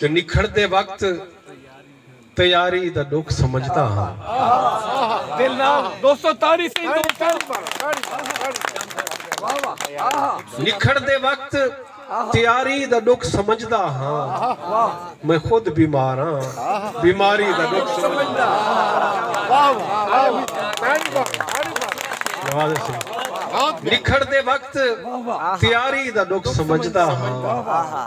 جو نکھڑدے وقت تیاری دا ڈکھ سمجھدا ہاں میں خود بیمار ہاں بیماری دا ڈکھ سمجھدا ہاں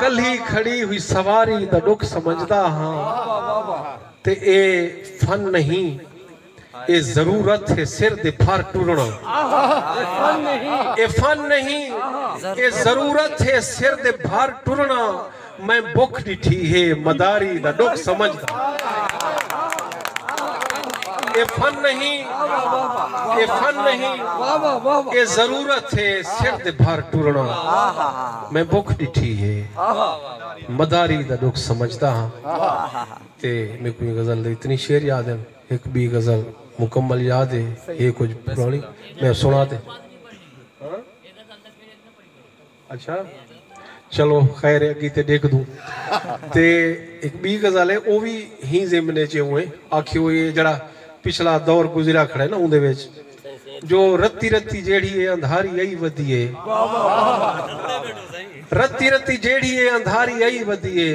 کلھی کھڑی ہوئی سواری دا ڈکھ سمجھدا ہاں تے اے فن نہیں اے ضرورت ہے سر دے بھر ٹرنا اے فن نہیں اے ضرورت ہے سر دے بھر ٹرنا میں بکھ ڈٹھی ہے مداری دا ڈکھ سمجھدا ہاں۔ اے فن نہیں اے فن نہیں اے ضرورت ہے سر دے بھر ٹرنا میں بکھ ڈٹھی ہے مداری دا ڈکھ سمجھدا ہاں تے میکو ایں غزل دے اتنی شعر یاد ہیں ہک بی غزل مکمل یاد ہے اے کچھ پرانی میں سنا دے اچھا چلو خیر ہے اگی تے ڈیکھدوں۔ تے ہک بی غزل ہے او وی ہی ضمن اچ ہے اونویں آکھی ہوئی ہے جیڑھا پچھلا دور گزریا کھڑے نا اوندے وچ جو رتی رتی جیڑھی ہے اندھاری ائی ودی ہے رتی رتی جیڑھی ہے اندھاری ائی ودی ہے۔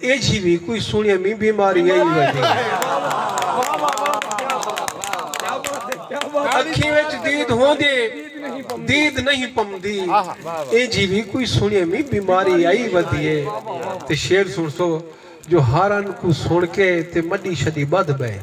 ایجھی وی کوئی سنڑیا مین بیماری آئی وجے اکھیں وچ دید ہوندے دید نہیں پمدی ایجھی وی کوئی سنڑیا مین بیماری آئی ودیے تے شیر سنڑسو جو ہارن کو سنڑ کے تے مڈی شدی بدھ بئے